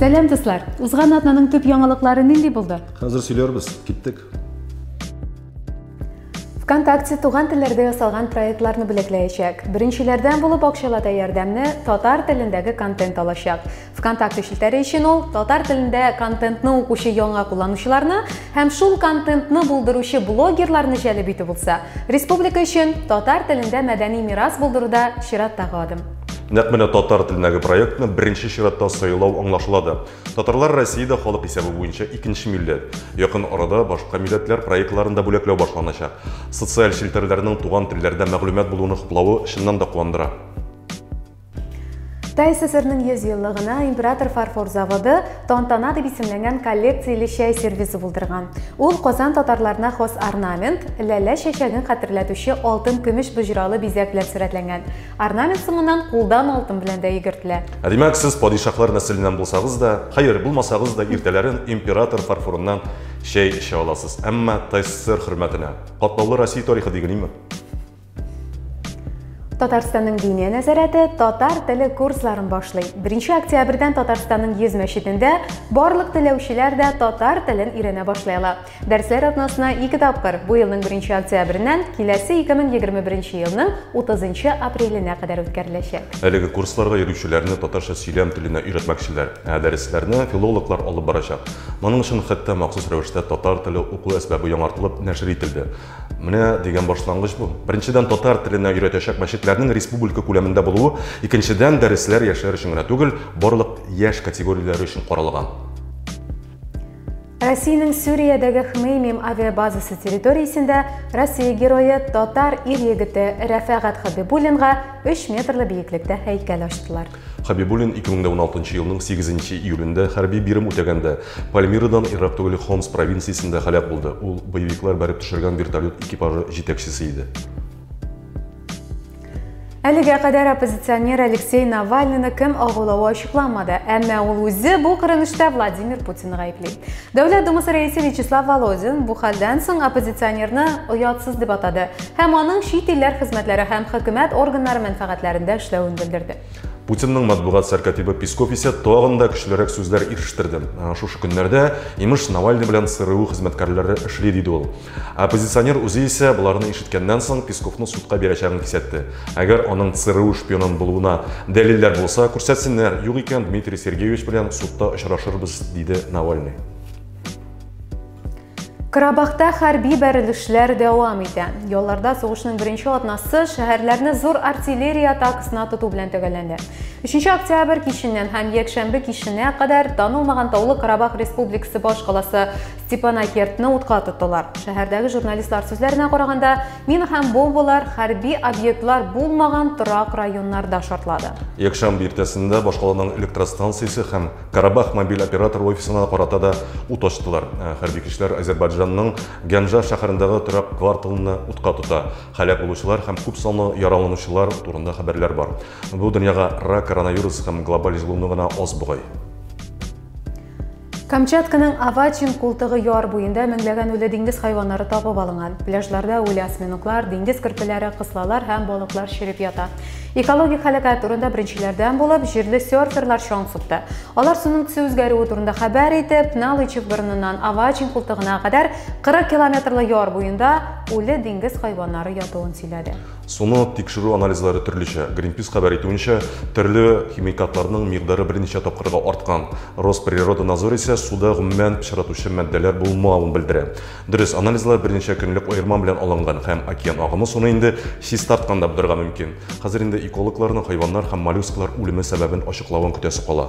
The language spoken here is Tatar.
Сәлам дуслар! Узган атнаның төп яңалыклары нинди булды? Хәзер сөйләрбез. Киттек. ВКонтакте туган телләрдә ясалган проектларны бүләкләячәк. Беренчеләрдән булып акчалата ярдәмне татар телендәге контент алачак. Вконтакте челтәре өчен ул татар телендә контентны укучы яңа кулланучыларны һәм шул контентны булдыручы блогерларны җәлеп итү булса, республика өчен татар телендә мәдәни мирас булдыруда чираттагы адым. Нәкъ менә татар телендәге проектны беренче чиратта сайлау аңлашыла да. Татарлар Россиядә халык исәбе буенча икенче милләт. Якын арада башка милләтләр проектларын да бүләкләү башланачак. Социаль челтәрләрнең туган телләрдә мәгълүмат булуны хуплавы чыннан да куандыра. Кытай ССРның 100 еллыгына Император фарфор заводы Тантана дип исемләнгән коллекцияле чәй сервизы булдырган. Ул Казан татарларына хас орнамент, ләлә чәчәген хәтерләтүче алтын-көмеш боҗралы бизәк белән сурәтләнгән. Орнамент соңыннан кулдан алтын белән дә йөгертелә. Ә димәк, сез падишаһлар нәселеннән булсагыз да, хәер, булмасагыз да, иртәләрен Император фарфорыннан чәй эчә аласыз. Әмма ТССР хөрмәтенә. Катлаулы Россия тарихы дигелиме? Татарстанның диния нәзарәте татар теле курсларын башлый. 1 октябрьдән Татарстанның 100 мәчетендә барлык теләүчеләр дә татар телен өйрәнә башлый ала. Дәресләр атнасына 2 тапкыр, бу елның 1 октябреннән киләсе 2021 елның 30 апреленә кадәр үткәреләчәк. Әлеге курсларга йөрүчеләрне татарча сөйләм теленә өйрәтмәкчеләр, ә дәресләрне филологлар алып барачак. Моның өчен хәтта махсус рәвештә татар теле уку әсбабы яңартылып нәшер ителде. Менә дигән башлангыч бу. Беренчедән, татар теленә өйрәтәчәк мәчетләрнең республика күләмендә булуы, икенчедән, дәресләр яшьләр өчен генә түгел, барлык яшь категорияләре өчен каралган. Россиянең Сүриядәге Хмеймим авиабазасы территориясендә Россия герое татар ир-егете Рәфәгать Хабибуллинга 3 метрлы биеклектә һәйкәл ачтылар. Хәбибуллин 2016 нчы елның 8 нче июлендә хәрби бирем үтәгәндә Пальмирадан ерак түгел Хомс провинциясендә һәлак булды. Ул боевиклар бәреп төшергән вертолет экипажы җитәкчесе иде. Әлегә кадәр оппозиционер Алексей Навальныйны кем агулавы ачыкланмады, әмма ул үзе бу кырынышта Владимир Путинны гаепли. Дәүләт Думасы рәисе Вячеслав Володин бу хәлдән соң оппозиционерны оятсыз дип атады һәм аның чит илләр хезмәтләре һәм хөкүмәт органнары мәнфәгатьләрендә эшләвен белдерде. Путинның матбугат сәркатибы Песков исә тагын да көчлерәк сүзләр ирештерде. Шушы көннәрдә, имеш, Навальный белән ЦРУ хезмәткәрләре эшли, диде ул. Оппозиционер үзе исә боларны ишеткәннән соң Песковны судка бирәчәген кисәтте. Әгәр аның ЦРУ шпионын булуына дәлилләр булса, күрсәтсеннәр, юк икән Дмитрий Сергеевич белән судта очрашырбыз, диде Навальный. Карабахта хәрби бәрелешләр дәвам итә. Ялларда сугышның беренче атнасы шәһәрләрне зур артиллерия атакасына тоту белән төгәлләнде. 3 октябрь киченнән һәм якшәмбе киченә кадәр танылмаган Таулы Карабах Республикасы башкаласы Степанакертны утка тоттылар. Шәһәрдәге журналистлар сүзләренә караганда, мин һәм бомбалар хәрби объектлар булмаган торак районнарда шартлады. Якшәмбе иртәсендә башкаланың электростанциясе һәм Карабах мобиль оператор офисына карата да ут ачтылар. Э, хәрби көчләр Азербайджанның Гәнжа шәһәрендәге торак кварталны утка тота. Һәлак булучылар һәм күп санлы яраланучылар турында хәбәрләр бар. Бу дөньяга рак, коронавирус һәм глобаль җылыну гына аз бугай. Камчатканың Авачин култыгы яр буенда меңләгән үле диңгез хайваннары табып алынган. Пляжларда үле осьминоглар, диңгез көрпеләре, кыслалар һәм балыклар череп ята. Экологик һәлакәт турында беренчеләрдән булып җирле серферлар чаң сукты. Алар суның төсе үзгәрүе турында хәбәр итеп, Налычев борыныннан Авачин култыгына кадәр 40 километрлы яр буенда үле диңгез хайваннары ятуын сөйләде. Суны тикшерү анализлары төрлечә. Гринпис хәбәр итүенчә, төрле химикатларның микъдары берничә тапкырга арткан. Росприродонадзор исә суда гомумән пычратучы матдәләр булмавын белдерә. Дөрес, анализлар берничә көнлек аерма белән алынган һәм океан агымы суны инде чистарткан да булырга мөмкин. Хәзер инде экологларның хайваннар һәм моллюсклар үлеме сәбәбен ачыклавын көтәсе кала.